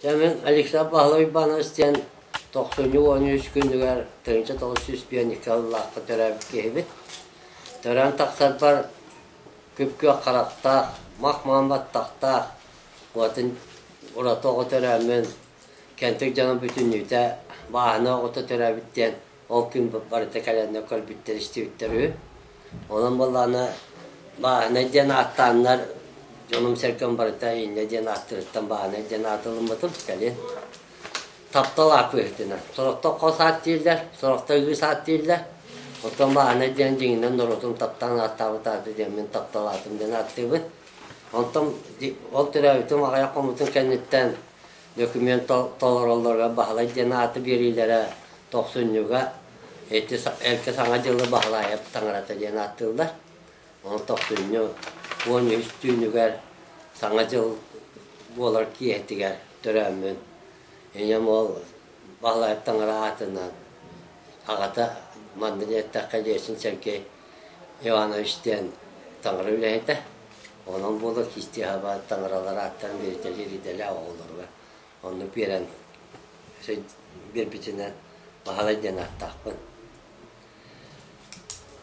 Дьэ мин Александр Павлович Иванович диэн тохсунньу уон үс күнүгэр тыһыынча тоҕус сүүс биэндикэ ыллаахха төрөөбүт киһибит. Төрөөн тахсарбар күп-күөх харахтаах, мах-маан баттахтаах, уотун ураты оҕо төрөөммүн, кэнтик дьоно бүтүннүүтэ бааһынай оҕото төрөөбүт диэн Ол күн барыта кэлэннэр көрбүттэр-истибиттэр үһү. Онон буоллаҕына бааһынай диэн ааттааннар дьонум-сэргэм барыта иннэ диэн ааттарыттан бааһынай диэн аатылыммытым кэлин. Таптал аат быһыытынан. Сорохто хос аат дииллэр, сорохто ыыс аат дииллэр. Оттон бааһынай диэн дьиҥинэн норуотум таптаан ааттаабыт ааты диэммин таптал аатым диэн ааттыыбын. Онтон ол төрөөбүтүм аҕыйах хомутун кэнниттэн Документ толороллоро Баһылай диэн ааты биэриилэрэ тохсунньуга Эдди Саҥа дьылы Баһылаайап таҥарата диэн ааттыыллар. Ону тохсунньу уон үһүс түүнүгэр Саҥа дьыл буолар киэһэтигэр төрөөммүн. Ийэм ол Баһылаайап таҥара аатынан аҕата маннык эттэххэ Лесин Сергей Иванович диэн таҥара үлэһитэ. Ол буолар кистиэһабаат таҥаралар ааттарын бэйэтэлиир идэлээх оҕолоругар онно биэрэн биэрбитинэн Баһылай диэн ааттаахпын.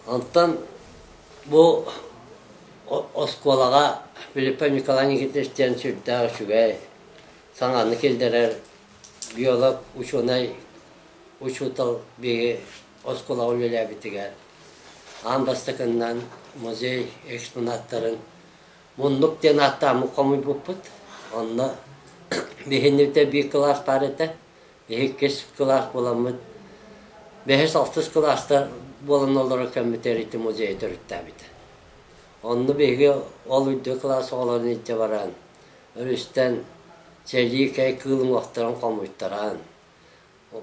Онтон бу оскуолаҕа Филиппов Николай Никитич диэн сүрдээх үчүгэй саҥаны киллэрэр геолог, учуонай, учуутал биһиги Оскуолаҕа үлэлээбитигэр аан бастакыннан музей экспонаттарын муннук диэн ааттааммыт хомуйбуппут. Онно биһиннибитэ биир кылаас баар этэ, иккис кылаас буоламмыт, бэһис-алтыс кылаастар буолан олорор кэммитигэр ити музей төрүттээбитэ. Онно биһиги ол үрдүк кылаас оҕолорун илдьэ баран, өрүстэн сэлии кэй кыыл уҥуохтарын хомуйтаран,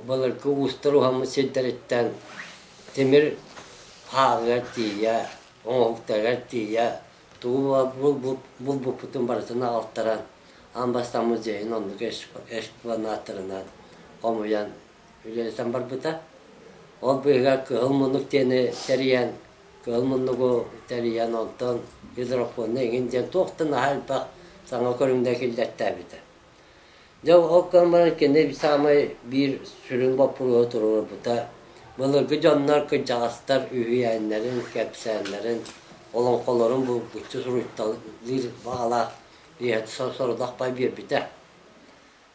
Былыргы уустар уһаммыт сирдэриттэн тимир хааһыгар тиийэ, оҥоһуктарыгар тиийэ тугу булбуппутун барытын аҕалтаран аан бастаан дьиэһин оннук экспонаттарынан хомуйан үлэлэтэн барбыта. Ол быыһыгар кыһыл муннук диэни тэрийэн, кыһыл муннугу тэрийэн онтон гидропоннай иҥин диэн туох да наһаа элбэх саҥа көрүҥнэр киллэртээбитэ. Дьэ ол гынан баран кини саамай биир сүрүн боппуруоһу туруорбута былыргы дьоннор кырдьаҕастар үһүйээннэрин, кэпсээннэрин, олоҥхолорун булгуччу суруйталыыр баҕалаах ийэ сорудах бай биэрбитэ.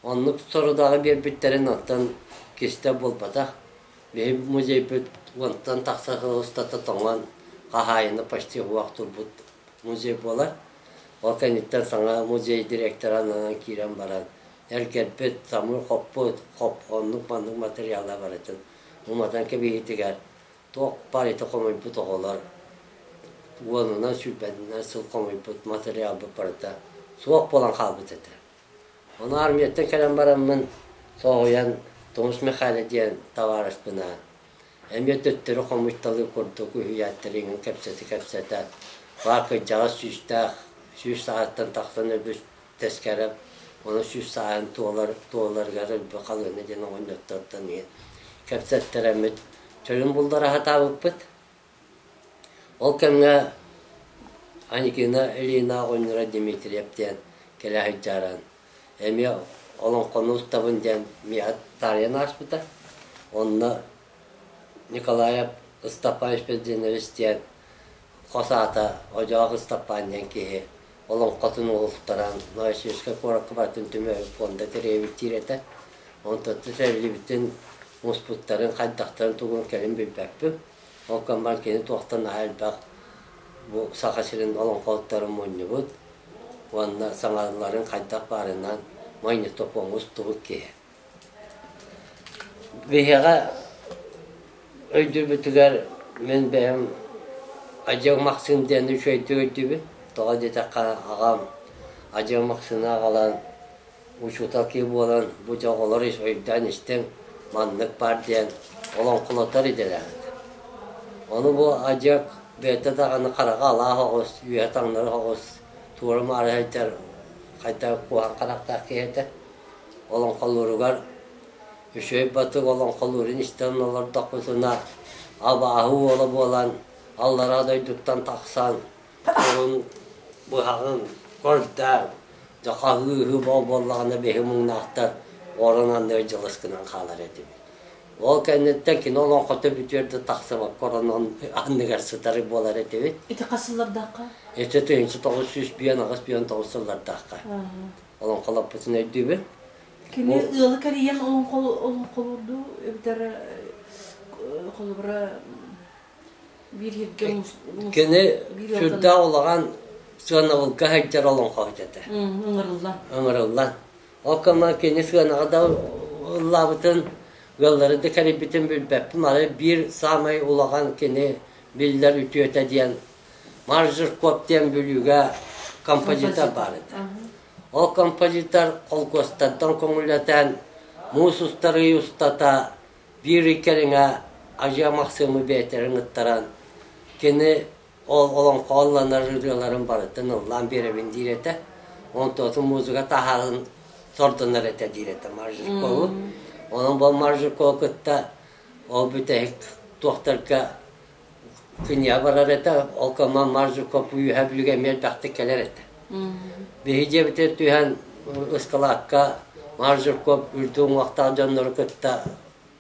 Оннук сорудаҕы биэрбиттэрин оттон кистэл буолбатах. Биһи музейбыт уонтан тахса сыл устата тоҥон, хаһаайына почти уһуох турбут Музей буолар. Ол кэнниттэн саҥа музей директора ананан киирэн баран, эр кэлбит, самыы хоппут, хоп, оннук-маннык материала барытын уматан кэбиһиитигэр туох баар ити хомуйбут оҕолор уонунан сүүрбэнинэн сыл хомуйбут материалбыт барыта суох буолан хаалбыт этэ. Ону армияттан кэлэн бараммын соһуйан Тумус Михаил диэн табаарыспынаан эмиэ төттөрү хомуйталыыр курдук үһүйээн тэриҥин кэпсэти-кэпсэтэ, хаар кырдьаҕас сүүстээх, сүүс саҕаттан тахсан өлбүт тэскэрэ ону сүүс сааһын туолар туоларыгар өлбү халыыны диэн оҕонньоттортон иһин кэпсэттэрэммит чөлүн буллара сатаабыппыт. Ол кэмҥэ Анькина Элина оҕонньоро Дмитриев диэн кэлэ сылдьаран Эмиэ олоҥхону ылтабын диэн Миат Таарыйан ааспыта. Онно Николаев Ыстапаевич Бездинович диэн хос аата Одьоох Ыстапаан диэн киһи олоҥхотун уһултаран Новосибирскай куоракка барытын түмүгэ пуонда тэрийэбиттиир этэ. Онтон сөбүлүүбүтүн муспуттарын, хайдахтарын тугун кэлин билбэппин. Ол комбайн кини туохтан наһаа элбэх бу Саха сирин олоҥхотторун мунньубут уонна саҥаларын хайдах баарынан манньыктопон устубут киһи. Биһиэхэ өйдүүбүтүгэр мин бэйэм Ажык Максим диэн үчүгэйдик өйдүүбүн. Тоҕо диэтэххэ, аҕам Ажык Максины аҕалан учуутал киһи буолан бу дьоҕолор ис өйдөөн истиҥ, маннык баар диэн олоҥхолотор идэлээҕит. Ону бу адьас бэйэтэ даҕаны хараҕа алаах оҕус, үөһэ таҥнары оҕус, туора маары сылдьар хайдах куһаҕан харахтаах киһи этэ. Олоҥхолууругар үчүгэй батык олоҥхолуурун истэн олордохпутуна абааһы уола буолан аллараа дойдуттан тахсан Курун быһаҕын көрдөөн, дьэ хаһыыһы боо буоллаҕына биһи муҥнаахтар оронон дьылыс гынан хаалар этибит. Ол кэнниттэн кино олоҥхото бүтүөр да тахсыбакка оронон анныгар сытары буолар этибит. Ити хас сыллардаахха? Ити тыһынча тоҕус сүүс бүөн аҕыс бүөн тоҕус сыллардаахха. Олоҥхолоппутун өйдүүбүн. Кини ыалы кэрийэн олоҥхолуурду эбэтэр холобура Кини сүрдээх улахан сыанабылга сылдьар олоҥхоһут этэ. Ыҥырыллан. Ыҥырыллан. Ол кэмҥэ кини сыанаҕа да ыллаабытын, ыаллары да кэрийбитин билбэппин. Ары биир саамай улахан кини биллэр үтүөтэ диэн Маржеркоп диэн бүлүүгэ композитор баар этэ. Ол композитор холкуостардан көҥүлэтэн, муус устарыы устата Биир кэриҥэ Адьыа Махсыымы бэйэтэрин ыттаран, кини олоҥхоланар ырыаларын барытын ыллаан биэрэбин диир этэ. Онтон музыка таһаҕын сордонор этэ диир этэ Маржикову. Онон бу Маржикову кытта ол бүтэһик туохтарга Күнье барар этэ, ол коман Маржуков үөһэ бүлүгэ эмиэ элбэхтик кэлэр этэ. Биһи дьиэбитэ түһэн ыскылаакка Маржуков үрдү уҥуохтаах дьоннору кытта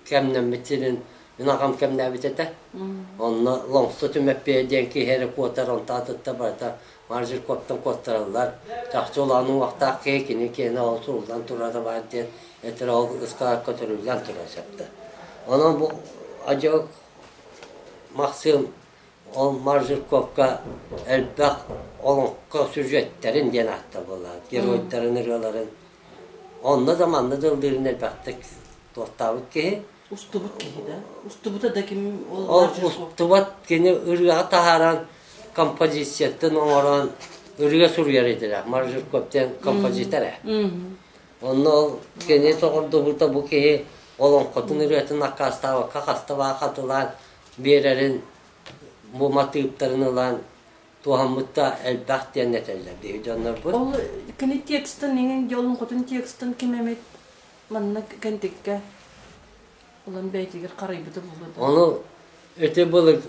кэмнэммит сирин ынахам кэмнээбит этэ. Онно Лоҥсу түмэппиэ диэн киһи эрэ куотар, онтаатытта барыта Маржуковтан куоттараллар. Чахчы улаан уҥуохтаах киһи кини киэнэ ол суруллан турара баар диэн этэрэ ол ыскылаакка төрүүллэн турар сөптө. Онон бу адьас Максим, ол Маржиковка элбэх олоҥхо сюжеттарын диэн аатта буолла, геройдарын ырыаларын. Онно да манна да ыллыырын элбэхтик туоттаабыт киһи. Устубут киһи да. Устубута да ким ол, ол устубат кини ырыаҕа таһааран композицияттан оҥорон ырыа суруйар этилэр. Маржиков диэн композитор ээ. Онно ол кини соҕурдубута бу киһи олоҥхотун ырыатын аккаастаабакка хаста баа хатылаан биэрэрин бу матыыптарын ылан туһаммытта элбэх диэн этэллэр биһи дьоннорбут. Ол кини текстын, иҥин дьолун хотун текстын ким эмит манна кэнтиккэ Улан бэйэтигэр харайбыты булду. Ону эти былык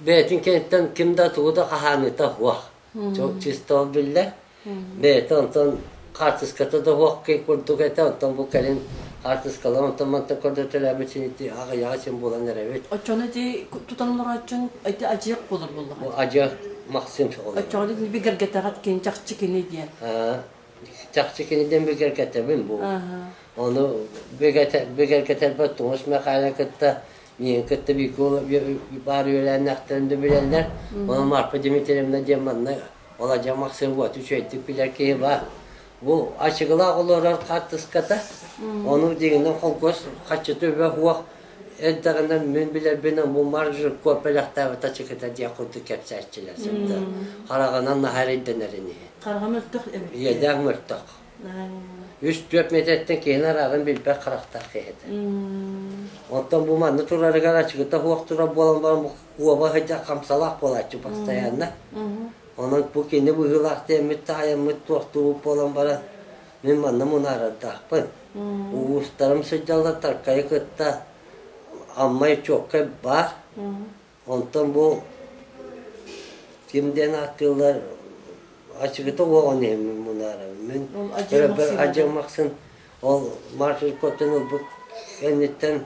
бэйэтин кэнтен ким да тугу да хаһааныта уах. Çok чисто биллер. Бэйэтэ онтон хаартыската да уох кей курдук этэ онтон бу кэлин хаартыскалар онтон мантан көрдөтөлөбүт сиити аҕыйаҕа син булан эрэбит. Оччону ити тутан олороччун эти ажыйық болор буллар. Бу ажы махсин шоғол. Оччону би гэргэтэҕит кенчахчы кини диэн. чахчы киниттэн бигэргэтэбин бу ону бигэргэтэрбэр Тоос Михайлы кытта миин кытта биикула баар үөлээннэхтэрин да билэллэр ону Марпа Дмитриевна диэн манна Оладьа Максим вот үчүгэйдик билэр киһи баар бу ачыгылаах олорор хаартыската ону дигинэ холкуос хаччыты үбэ хуох Эрдэҕинэ мин билэрбин омумар жирков бэлэхтээбит ачыкыта диэн курдук кэпсээччилэр сыттар. Хараҕынан наһаа эрэйдэнэрин иһин. Хараҕа мөлтөх эбит. Иэдээх мөлтөх. Үс-түөрт метртэн киһини араарын билбэт харахтаах киһи этэ. Оттон бу манна турарыгар ачыкыта суох турар буолан баран уоба сыдьах хамсалаах буолааччы постоянно. Онон бу кини быһыылаах диэммит таайаммыт туохтуубут буолан баран Мин манна мунаарардаахпын. Уустарым сылдьаллар, таркайы кытта Аммай Чуоккай баар. Онтон бу ким диэн ааттыыллар ачыгыта уоҕун иһин мин мунаарабын. Мин Мин адьырмах сирим. адьырмахсын ол маршрут көтүн ылбыт кэнниттэн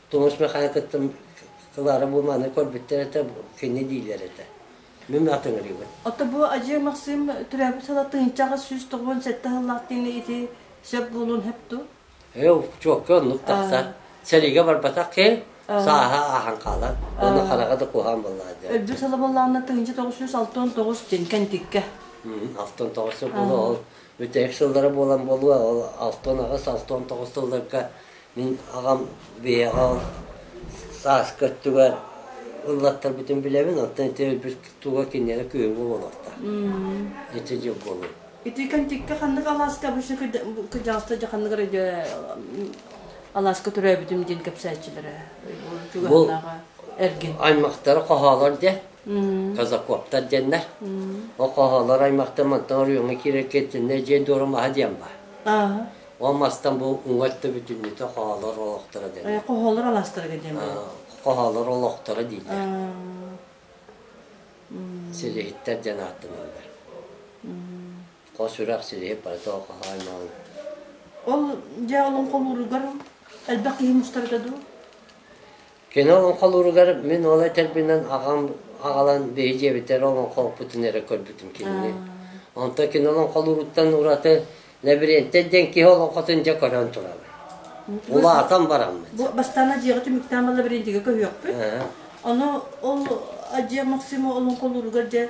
Тумус Михаил кыттым Клара бу маны көрбүттэр этэ, кини диилэр этэ. Мин атыҥырыыбын. Ото бу Ажыы Максим түрөөбүт салатыынчаҕа сүүс тоҕуон сэттэ сыллаахтыыны ити сөп буолуон хэпту? Ээ, чуокка оннук тахса. Сэриигэ барбатах ки, сааһа ааһан хаалан, оны хараҕа да куһаан боллаа дэ. Өлбү саламаллаана тыһынча тоҕус сүүс алты он тоҕус тинкен тикке. Алтан тоҕус сыл була ол бүтээх сыллара буолан болуа ол алтан аҕыс алтан тоҕус сылларга Мин аҕам бэйэҕэ сааскы өттүгэр ыллаттарбытын билэбин, оттон ити өлбүт тууга кинилэрэ күһүҥҥү буолуохтаах. Ити дьыл буолуо. Ити кэнтиккэ ханнык алааска обычно кырдьаҕаста дьэ ханнык эрэ дьэ алааска төрөөбүтүм диэн кэпсээччилэрэ чугаһынааҕа эргин аймактара хоһоолор дьэ казакоптар диэннэр ол хоһоолор аймактар мантан оройуоҥҥа киирэр кэнсэннэр дьиэ дуора маһа диэн баа Ол мастан бу уҥат да бүтүннүтэ хоһоолор олохторо диэн. Хоһоолор алаастарга диэн Хоһоолор олохторо дииллэр. Силиһиттэр диэн ааттаналлар. Хос үрэх силиһи парито хоһоой маал. Ол дьэ олоҥхолууругар элбэх киһи мустарга дуу? Кини олоҥхолууругар мин ол этэрбинэн аҕам аҕалан биһиги эбэтэр олоҥхолоппутун эрэ көрбүтүм кинини. Онтон кини олоҥхолууруттан ураты Лабиринтэ диэн киһи олоҥхотун дьэ көрөн турабын. Улаатан бараммыт. Бу бастаана дьиэҕэ түмүктээн балла лабиринтигэ көһүөхпүт. Ону ол дьиэ Максима олоҥхолууругар дьэ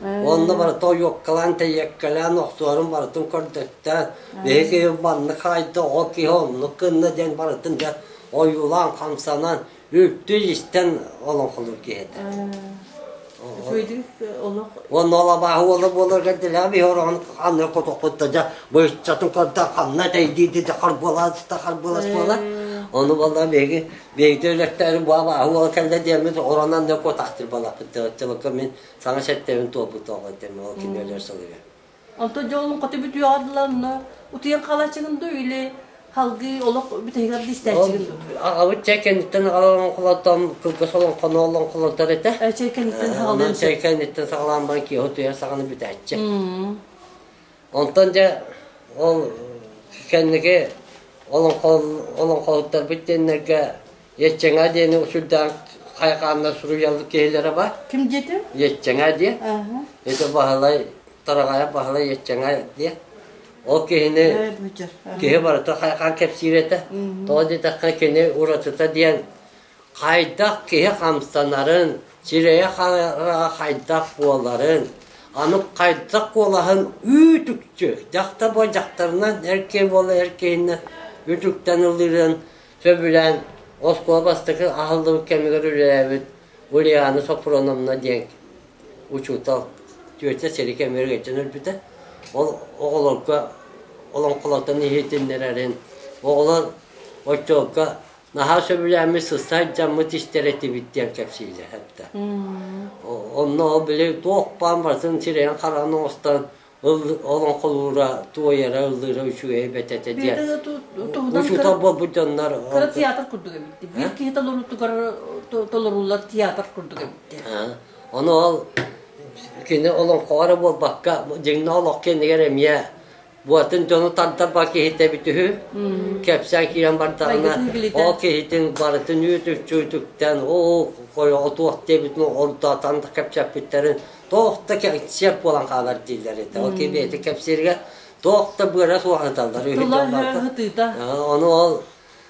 Уонна барыта ойуоккалаан, тэйиэккэлээн, охтуорун барытын көрдөттөөн, биһиги маннык хаайда, ол киһи оннук гынна диэн барытын дьэ ойуулаан, хамсанан, үлтү-истэн олоҥхолуур киһи этэ. Үчүгэйдик олох Уонна ол абааһы уола буоларга дилэм иһ ороҕун аны котохпут да дьа быыччатын көрдө ханна тэйдииди да харбылас да харбылас буола ону балла биһиги биһиги өлөктөрү бу абааһы уола кэллэ диэммит оронан да котахтыр балаппыт тыгыттыбакка мин Саҥа сэттэбин туолбутоҕу этим, ол кини өлөр сылыгар. Онтон дьолун хоту бүтүөҕэр дылы онно утуйан хаалааччыгын да или халгыы олох бүтэһигэр да истээччигин дуу? Аҕабыт чэй кэнниттэн аҕалан холонтон кылгас олоҥхону олон холонтор этэ. Чэй кэнниттэн саҕалаан. Онон чэй кэнниттэн саҕалаан баран киһи утуйар саҕаны бүтээччи. Онтон дьэ ол кэнники олоҥхоһуттарбыт диэннэргэ Еччэҥэ диэни учурдаан хайхаанна суруйаллар киһилэрэ бар. Ким диэтин? Еччэҥэ диэ. Ити Баһылай, Тараҕайа Баһылай Еччэҥэ диэ. Ол киһини киһи барыта хайхаан кэпсиир этэ. Тоҕо диэтэххэ кини уратыта диэн Хайдах киһи хамсанарын, сирэйэ-хараҕа хайдах буоларын, аны хайдах куолаһын үүт-үкчү дьахтар-буор дьахтарынан эр киһи буола эр киһинэн үтүктэн ылыырын сөбүлээн оскуола бастакы аһыллыбыт кэмигэр үлэлээбит Ульяна Софроновна диэн учуутал тетя сири кэмигэр илдьэн өлбүтэ. Ол оҕолорго олоҥхолортон иһитиннэрэрин, оҕолор оччолорго наһаа сөбүлээммит сыстар дьаммыт истэр этибит диэн кэпсиилэһэрдэ онно били туох баан барытын сирэйин-хараҕын оҥостон олоҥхолуура туойара ыллыыра үчүгэй эбэт этэ диэн учуутал буолбут дьоннор кыра театр курдук эбит биир киһи толоруутугар толоруулар театр курдук эбит ону ол кини олоҥхоҕо эрэ буолбакка дьиҥнээх олох кэннигэр эмиэ бу атын дьону тантарба киһитэбит үһү кэпсээн киирэн бардаҕына ол киһитин барытын үүтүччүүтүктэн оо хойоҕо туох диэбитин онто танта кэпсэппиттэрин туох да кэпсиэр буолан хаалар дииллэр этэ ол кибиэти кэпсииргэ туох да быара суох аталлар үһү ону ол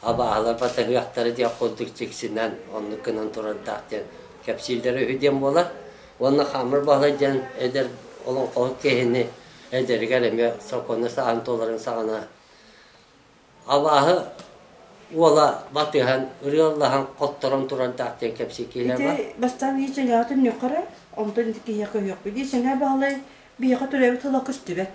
абааһылар батыһыахтара диэх курдук дьиксинэн, оннук гынан турардаах диэн кэпсииллэрэ үһү диэн буолар. Уонна Хаамыр Баһылай диэн эдэр олоҥхоһут киһини эдэригэр эмиэ сокуону саҕан туоларын саҕана абааһы уола батыһан, ырыаллаһан, хотторон турардаах диэн кэпсии киһиэ бар. Ити бастаан ии дьайаатын ньөхөрө, онтон ити киһиэхэ үһүөхпүт. Ии Сэнэ Баһылай биһиэхэ төрөөбүт тыла көстүбэт.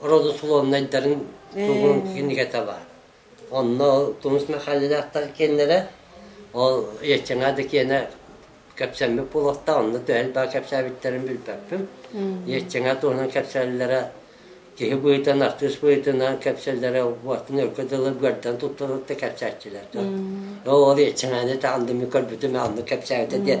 родословнайдарын тугун кинигете бар. Онно Тумус Михайловтар киэннэрэ, ол Еччеҥа да киэнэ кэпсэммит болохта, онно төһөл баа кэпсээбиттерин билбэппим. Еччеҥа туһунан кэпсэллэрэ, киһи быһыытынан, артыыс быһыытынан кэпсэллэрэ, уоттан өлкө дылы көрдөн туттарытта кэпсээччилэр. Ол Еччеҥаны таандыми көрбүтүм, анны кэпсээбитэ диэн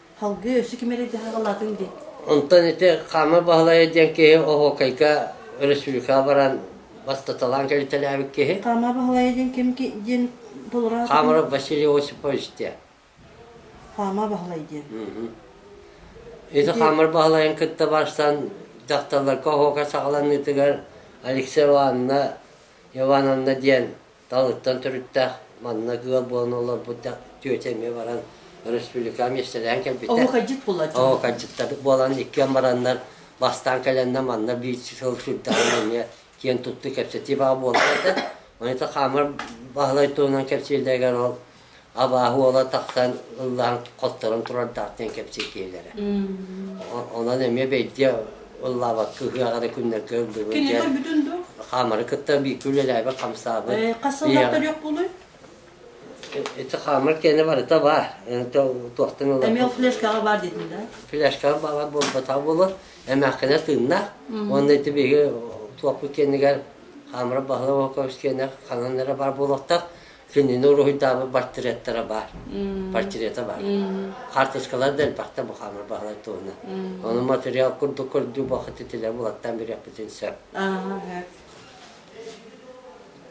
Салгыы өссө ким эрэ дьаһаҕа ылаатыҥ дии. Онтон ити Хаама Баһылайа диэн киһи оһуокайга өрөспүүбүлүкэҕэ баран бастаталаан кэлитэлээбит киһи. Хаама Баһылайа диэн ким диэн толороот? Хаамаров Василий Осипович диэн. Хаама Баһылай диэн. Ити Хаамар Баһылайын кытта барсан дьахталларга оһуока саҕаланыытыгар Алексей Ивановна Ивановна диэн Таныттан төрүттээх манна ыал буолан олорбут да тетя эмиэ баран республикаҕа миэстэлэһэн кэлбиттэр. Оҕукайдьыт буолааччы. Оҕукайдьыттар буолан иккиэн бараннар бастаан кэлэннэ манна биир сыл сырдаҕын эмиэ киэн туттуу кэпсэтии баҕа буолбут да. Манайта хаамар Баһылай туһунан кэпсииллэригэр ол абааһы уола тахсан ыллаан хотторон турардаахтан кэпсэтиэлэрэ. Онон эмиэ бэйдиэ ыллаабакка ыһыаҕа да күннэргэ ыллыбын Кинилэр бүтүн дуу? Хаамары кытта бииргэ үлэлээбит хамсаабыт. Хас сыллаах төлүөх буолуй? Ити хаамар киэнэ барыта баар. Туохтан ылар? Эмиэ флешкаҕа баар дейтин да? Флешкаҕа баар буолбатах буолар. Эмээхкинэ тыыннаах. Уонна ити биһиги туохпут киэнигэр хаамара баһылай Волкович киэнэ ханан эрэ баар буолуохтаах. Кинини уруһуйдаабыт портреттара баар. Портрета баар. Карточкалар да элбэхтэ бухаамар баһылай туһуна. Ону материал курдук көрдүү бохати тилэ булаттан билэхпитин сөп.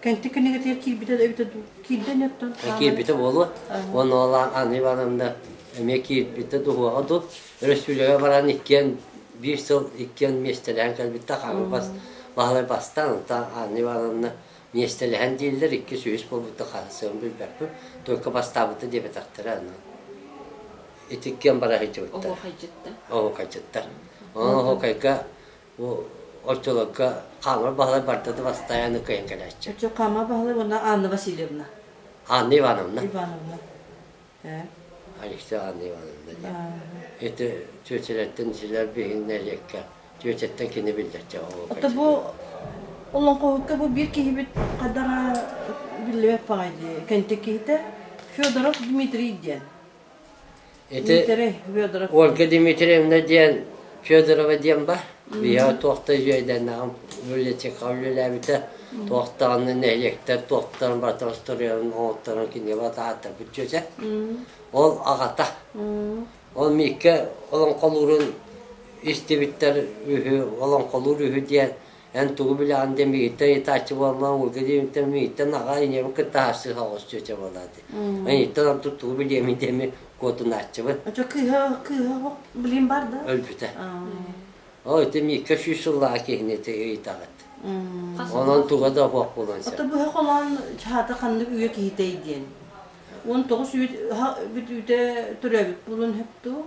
Кэнти кэнигэтигэр киирбитэ да эбитэ дуу? Киирден өттөн? Киирбитэ буолуо. Оны олаан Анна Ивановна эмиэ киирбитэ дуһуаҕа дуу. Өрөспүүлүкэ баран иккиэн биир сыл иккиэн миэстэлээн кэлбитте хаамыр бас Баһылай бастан, Анна Ивановна Миэстэлэһэн дииллэр, иккис, үһүс буолбутта хаһан сыалын билбэппин. Только бастаабыта диэбэтэхтэрэ аны. Итиккиэн бара сылдьыбыттар. Оһуохайдьыттар. Оһуохайдьыттар. Оһуохайга бу оччолорго Хаамар Баһылай барда да бастаан аны кыайан кэлээччи. Оччо Хаамар Баһылай уонна Анна Васильевна. Анна Ивановна. Ивановна. Александра Ивановна диэн. Ити Чүөчэлэттэн силэр биһин нэриэккэ Чүөчэттэн кини биллэрчэ Это бу олоҥхоһукка бу биир киһибит хадара биллибэт паҕай дии кэнтик киһитэ Федоров Дмитрий диэн. Ити Дмитрий Федоров Ольга Дмитриевна диэн Федорова диэн бар. Ийэ туох да үөйдэнэҕим. Библиотекаҕа үлэлээбитэ. Туохтаҕына нэһилиэктэр туохтарын барытын устуруйаларын оҥотторон кинигэ таһааттарбыт дьүөтэ. Ол аҕата. Ол Миикэ олоҥхолуурун истибиттэр үһү, олоҥхолуур үһү диэн Эн тугу билэҕин диэн миигиттэн ыйытааччы буоллаҕым, уолга диэбиттэн миигиттэн наҕаа ийэбин кытта харсыһа оҕус чүөчэ буолааты. Ийиттэн ордук тугу билиэмин диэн мин куотунааччыбын. Очо кыыһа кыыһа билим бар да? Өлбүтэ. Ол ити Миикка сүүс сыллаах киһини ыйытаҕыт. Онон туга да буох буолан сөп. Ото быһа холоон чаата ханнык үйэ киһитэй диэн. Он тоҕус үйэ бүт үүтэ төрөөбүт булун хөпту.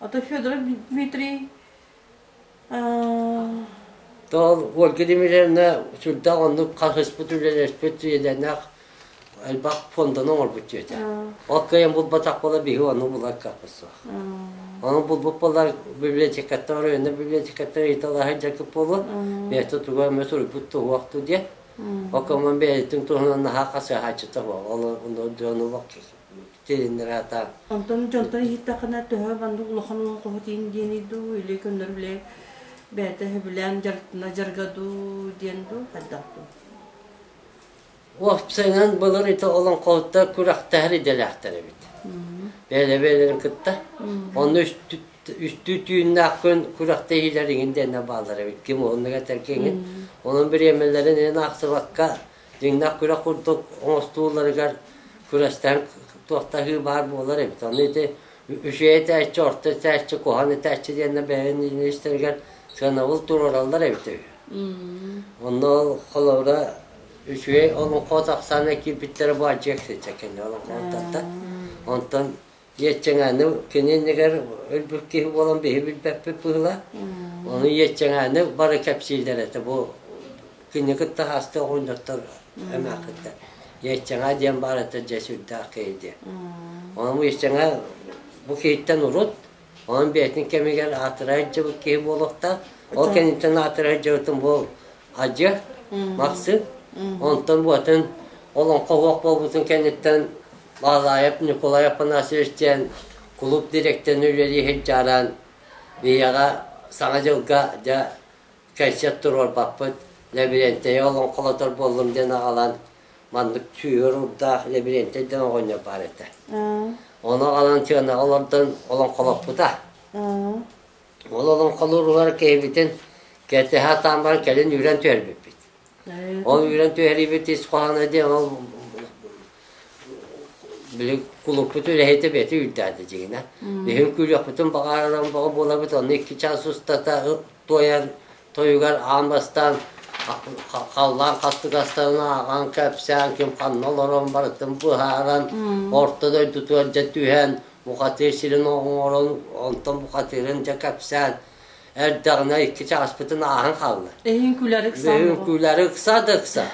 А то Федор Дмитрий Тоол Ольга Дмитриевна сүрдээх оннук хаһыспыт үлэлэспит үйэлэнэх элбэх фонданы оҥорбут дьиэтэ. Ол кыайан булбатах буола биһи ону булар каппыт суох. Ону булбут буолар библиотекаттан оройуонна библиотекаттан ыйыталаһан дьаргып буолуо. Бэйэтэ туга эмэ суруйбут туһуохту диэн. Оккаман бэйэтин туһунан наһаа хасыһааччыта буол. Ол онно дьон олох Килининграта. Онтон дьонтон иһиттэххинэ, төһө маннык улахан уоҕуһут иин диэний дуу, или көннөр үлэ бэйэтэ сөбүлээн дьарыктана жарга дуу диэн дуу, хайдах дуу? Уопсайынан былыр ити олоҥхоһуттар күрэхтэһэр идэлээхтэр эбит. Бэйэлэрин кытта. Онно үстүү түүннээх күн күрэхтэһиилэр иҥин диэннэ бааллар эбит. Ким оннуга этэргиҥин. Онон бириэмэлэрин эн аахсыбакка дьиҥнээх күрэх курдук оҥостуулларыгар күрэстэһэн туохтаһыы баар буолар эбит. Аны ити үчүгэй этээччи, орто этээччи, куһан этээччи диэннэр бэйэни ириэстэригэр сыанабыл туруораллар эбит үһү. Онно холобура үчүгэй олоҥхо тахсаана киирбиттэрэ бу адьыак сиччэ кэнэ олоҥхоттан. Онтон Иэччэҥээним кини иннигэр өлбүт киһи буолан биһи билбэппит быһыылаах. Ону Иэччэҥээним бары кэпсииллэр этэ бу кини кытта хаастык оҕунньоттор эмээххиттэр. Иэччэҥээ диэн баар этэ дьэ сүрдээх киһи диэн. Ону Иэччэҥээ бу киһиттэн урут онон бэйэтин кэмигэр аатырай дьыбыт киһи буолуохтаах. Ол кэнниттэн аатырай дьыбытын бу Адья, Махсыт, онтон буотун олоҥхо оһуох буолбутун кэнниттэн Баалаайап Ньукулай Афанасьевич диэн кулууп дириэктэрин үлэлииһин дьааран ийэҕэ Саҥа дьылга дьэ кэнсиэт туруорбаппыт, лэбириэнтэйи олоҥхолотор буоллум диэн аҕалан маннык сүһүөр урдаах лэбириэнтэй диэн оҕонньор баар этэ. Ону аҕалан сыанаҕа олордон олоҥхолоппута. Уол олоҥхолуу уруһуйдара киһибитин кэрдэһэ сатаан баран кэлин үүрэн түһэрбиппит. Ол үүрэн түһэриибит ис хоһооно диэн ол били кулуппут үлэһитэ бэти үрдээтэ дьиҥинэ. Биһиги күлүөхпүтүн баҕараран бөҕө буолабыт, онно икки чаас устата ып туойан Тойугар аан бастаан халлаан хастыгастарынан аҕаҥ кэпсээн ким ханна олорон барытын быһааран орто дойдутугар дьэ түһэн бухатыыр сирин оҥорон онтон бухатыырын дьэ кэпсээн эрдэҕинэ икки чааспытын ааһан хаалла. Эһиҥ күлэр ыкса. Эһиҥ күлэр ыкса да ыкса.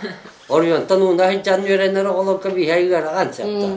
Оройуонтан ууна сылдьан үөрэнэр оҕолорго биһэ ыарахан сөптөөх.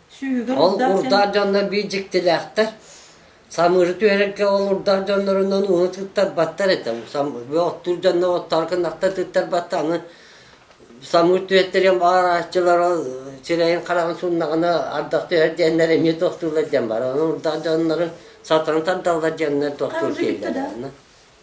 Ол урдаах дьоннор биир дьиктилээхтэр. Самыыры түһэрэргэ ол урдаах дьоннорунан ууну тыттарбаттар этэ. Оттуур дьоннор оттоор кынахта тыттарбатта аны самыыр түһэттериэн баарааччылара сирэйин хараҕын суннаҕына ардах түһэр диэннэр эмиэ тохтуулар диэн бар. Аны урдаах дьоннору сатан тардаллар диэннэр тохтуур киирдэ.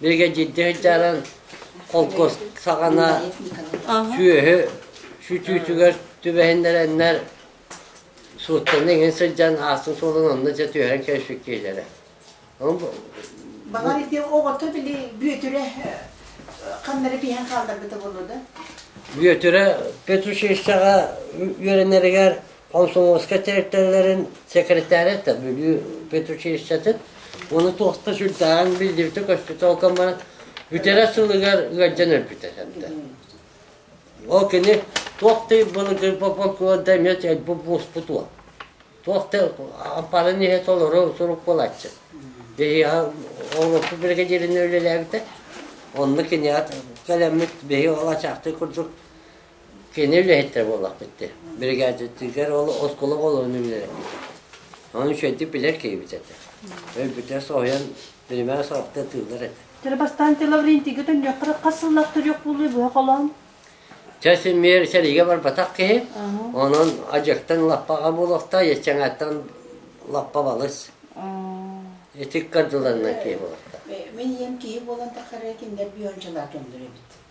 Бригадирдыы дьаран холкуос саҕана сүөһү сүтүүтүгэр түбэһиннэрэннэр сууттаны иҥин сылдьан аасын суолун онно дьэ түһэрэн кэспиккиилэрэ. Баҕар ити оҕото били Бүөтүрэ ханнары пиһэн хаалларбыта буолуо да? Бүөтүрэ педучилищеҕа үөрэнэригэр Комсомольскай тэрилтэлэрин секретаря да Бүлүү педучилищетын уну туохта сүрдээҕин биллибитэ-көспүтэ ол баран бүтэрэ сылыгар ыалдьан өлбүтэ сэнтэ. Ол кини туох ты былыгы попокуонда эмиэ элбу буоспут уо. Туох ты аппарын ihe толору сурук булаччы. Деһиа Европа бригадирин үлэлээбитэ. Онну киниат кэлэммит бэһи олачаахты курдук Кини үлэһиттэрэ буоллахпыттыы. Биригээдэтигэр ол оскуола оҕолорун үлэлэппитэ. Ону үчүгэйдик билэр киһибит этэ. Өйбүтэ соһуйан биримэ саҕахта ытыыллар этэ. Тэр бастаан Тела Лаврентийга төннүөххэ хас сыллаах төрүөх буолуой буһа холоон? Чэ симиэр сэриигэ барбатах киһи. Онон адьыктан лаппаҕа буолуохтаа, еччэҥээттэн лаппа балыс. Итик кардыланнан киһи буолуохтаа. Мин ийэм киһи буолан таххара кинилэр бийончалаат оллор эбит.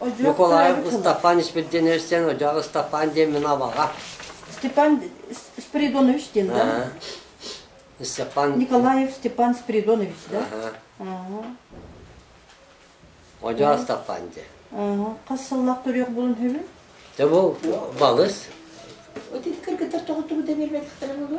Ньукулаев Ыстапаан Испирдиэновичтэн Одьоох Ыстапаан диэн мин абаҕа. Степан Спиридонович диэн, да? Степан... Николаев Степан Спиридонович, да? Одьоох Ыстапаан диэн. Хас сыллаах төрүөх булун үһүбүн? Те бу балыс. Вот это кыргыттар тоҕу туру дэнирбеттер булу?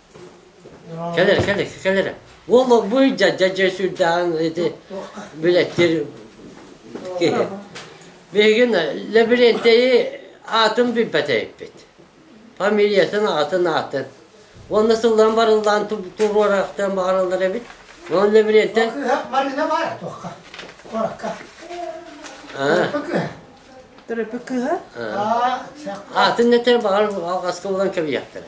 Кэлэрэ, кэлэрэ, кэлэрэ. Ол буй дьадьа дьэ сүрдээҕин ити билэттир киһи. Биһигин лабиринтэйи аатын билбэтэйиппит. Фамилиятын аатын аатын. Уонна сыллан барыллаан туруорахтан баҕараллар эбит. Уон лабиринтэн... Кыһах манына бар туохха. Оракка. Төрөппүк кыһа? Аатын нэтэ баҕар алҕаска булан кэбиһиэхтэрэ.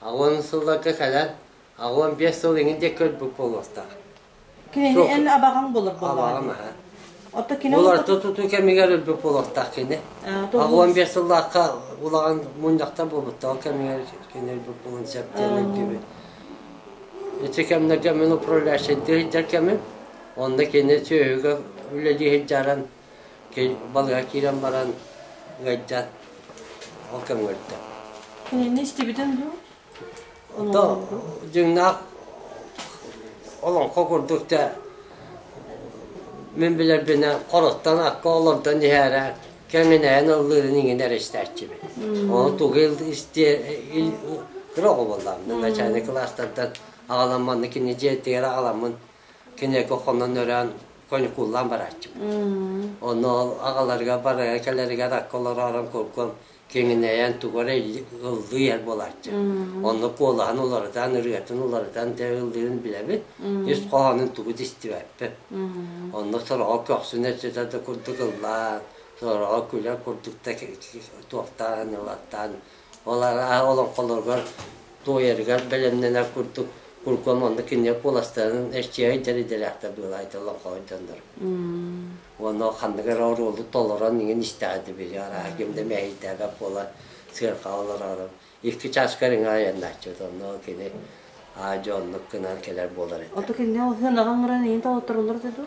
Аҕыан сылларга кэлэн, аҕыан биэс сыл иҥин диэки көрбүт буолуохтаах. Кини Суох. эн абаҕаҥ болор буолаҕын. Абаҕам аһа. Отто кино Бұл орто тутуу кэмигэр өлбүт буолуохтаах кини. Аҕыан биэс сыллаахха улахан мунньахта буолбуттаах кэмигэр кини өлбүт буолан сөп диэн өйдүүбүн. Ити кэмнэргэ мин управляющайдыы сылдьар кэмим. Онно кини сүөһүгэ үлэлии сылдьаран балыыһа киирэн баран ыайдьан ол көмөлөрдө. Кинини истибитин дуу? То дьыҥнаах олоҥхо курдук да мин билэрбинэн хороттон акка олордон иһээрэ кэҥинэйэн ыллыырын иҥин эрэстээччибин. Оны тугу истиэ кыра оҕолордон начальник класстардан аҕаламманны кини дьиэтигэр аҕаламмын киниэко хонон өрөөн конькуллаан барааччыбын. Ону аҕаларыгар барарга-кэлэригэр акка олоророн куркум киҥинэйэн тугу эрэ ыллыы эр буолааччы. Онно куолаһын уларытан, ырыатын уларытан тэ ыллыырын билэбит. Ис хоһоонун тугу да истибэппит. Онно сороҕо көхсүн өссөтө да курдук ыллаан, сороҕо күлэр курдук да туохтаан ылаттаан Ол олоҥхолоругар, туойарыгар бэлэмнэнэр курдук куркуом онно кинилэр куоластарын эрчийэр дэридэлээхтэр быылайда олоҥхоһуйданнар. Ону ханнык эрэ оруолу толорон иҥин истэҕэ били арааһа ким да мэһэйдээбэт буола сыаркаҕа олороору икки чааска риҥэ айаннааччыт онно кини аа дьоннук гынан кэлэр буолар этэ. Оту кинилэр сыанаҕа оҥорон иһин толоттороллор да дуу?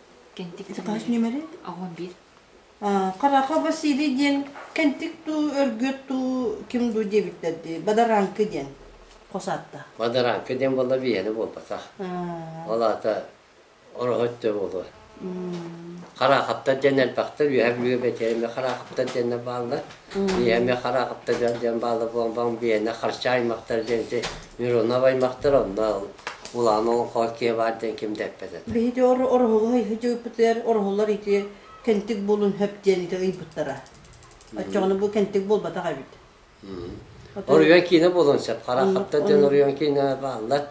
Сакаас ньүмэри? Аҕам биир. Хараха Василий диэн кэнтик дуу, өргүөт дуу, ким дуу диэбиттэр дии. Бадаранка диэн хос аатта. Бадаранка диэн буолла биһиэнэ буолбатах. Ол аата ороһо өттө буолуо. Хараахаптар диэн элбэхтэр, үөһэр бүө бэтиэмэ хараахаптар диэннэр бааллар. Ийэми хара кыттыгар диэн баала буолбаҥ биэнэ харчы аймахтар диэн ити Миронов аймахтар онно улаан олоҥхо киэ баар диэн ким да эппэтэ. Биһиги Ороһулу ыйыппытыгар Ороһуллар ити Кэнтик буолун хөп диэн ити ыйбыттара. Оччоҕуна бу Кэнтик буолбатах эбит. Оройуон киинэ буолуон сөп. Хара хатта диэн оройуон киинэ бааллар.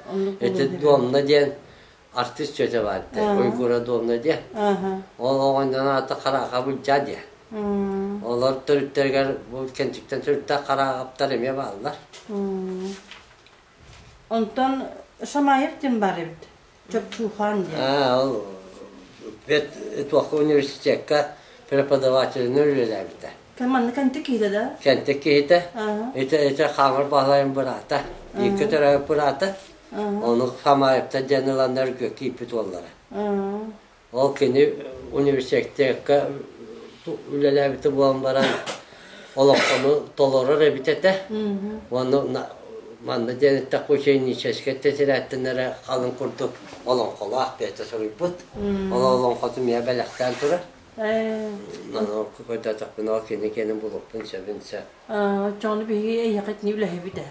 Эти дуонна диэн артыыс тетя баардай Уйгура Домна диэ. Ол оҕонньон аата Хараахабын дьа диэ. Олор төрүттэригэр бу кэнчиктэн төрүттэх Хараахаптар эмиэ бааллар. Онтон Шамаев дин бар эбит. Чопчуухан диэн. Аа, ол туохка университетка преподавателинэн үлэлээбитэ. Манна кэнтик киһитэ да? Кэнтик киһитэ. Ити ити хаамыр баһлайын быраата. Икки төрөй быраата. Ону Хамаевта диэн ыланнарга кииппит уоллара. Ол кини университетка үлэлээбитэ буолан баран олоххону толорор эбит этэ. Уонна манна диэн эттэк ученическай тетирээттинэрэ халын курдук олоҥхолоох бэйэтэ суруйбут. Ол олоҥхоту миэ бэлэхтээн турар. Манан көрдөөтөхпүн ол кини кини булуппун сөбүн сөп. Оччону биһиги эйэхэтини үлэһэбит ээ.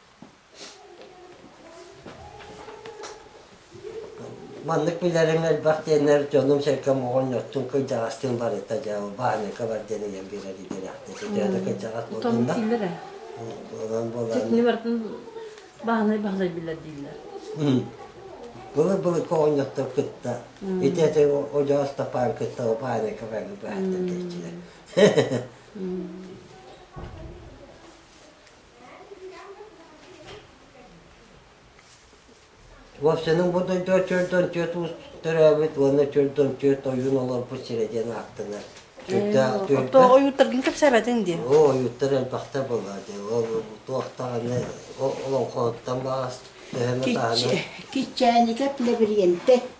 Маннык билэриҥ элбэх диэннэр дьонум-сэргэм оҕонньортун кырдьаҕастыын барыта дьэ баһаныка бар диэн ыйан биэрэр идэлээхтэр. Сэтиэ да кырдьаҕас Отон буолунна. биллэр ээ. Онон буолан Чэтини барытын бааһынай бааһынай биллэр дииллэр. М. Былыт-былытка оҕонньоттор кытта ити ити Одьоос Тапаан кытта баһаныка баҥы баһыттар диэччилэр. М. Вовсенын бу дойдуга чөрдөн түөрт уус төрөөбүт уонна чөрдөн түөрт ойуун олорбут сирэ диэн ааттанар. Тоҕо ойууттаргын кэпсээбэтиҥ дии? Оо, ойууттар элбэхтэ буолла дии. Ол туохтаҕына олоҥхоттан баас төһөнө даҕаны. Киччээникэ Плебриенте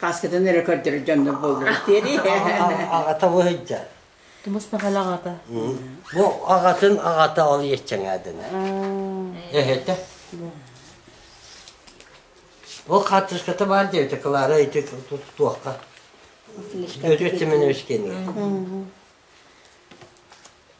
Хааскытын эрэ көрдөрөр дьоннор буоллар диэри. Аҕата бу сылдьар. Тумус Махал аҕата. Бу аҕатын аҕата ол иэччэҥээтэнэ. Эһэтэ. Ол хаартыската баар диэбитэ Клара ити туохха. Өтүө Семенович кэннэ.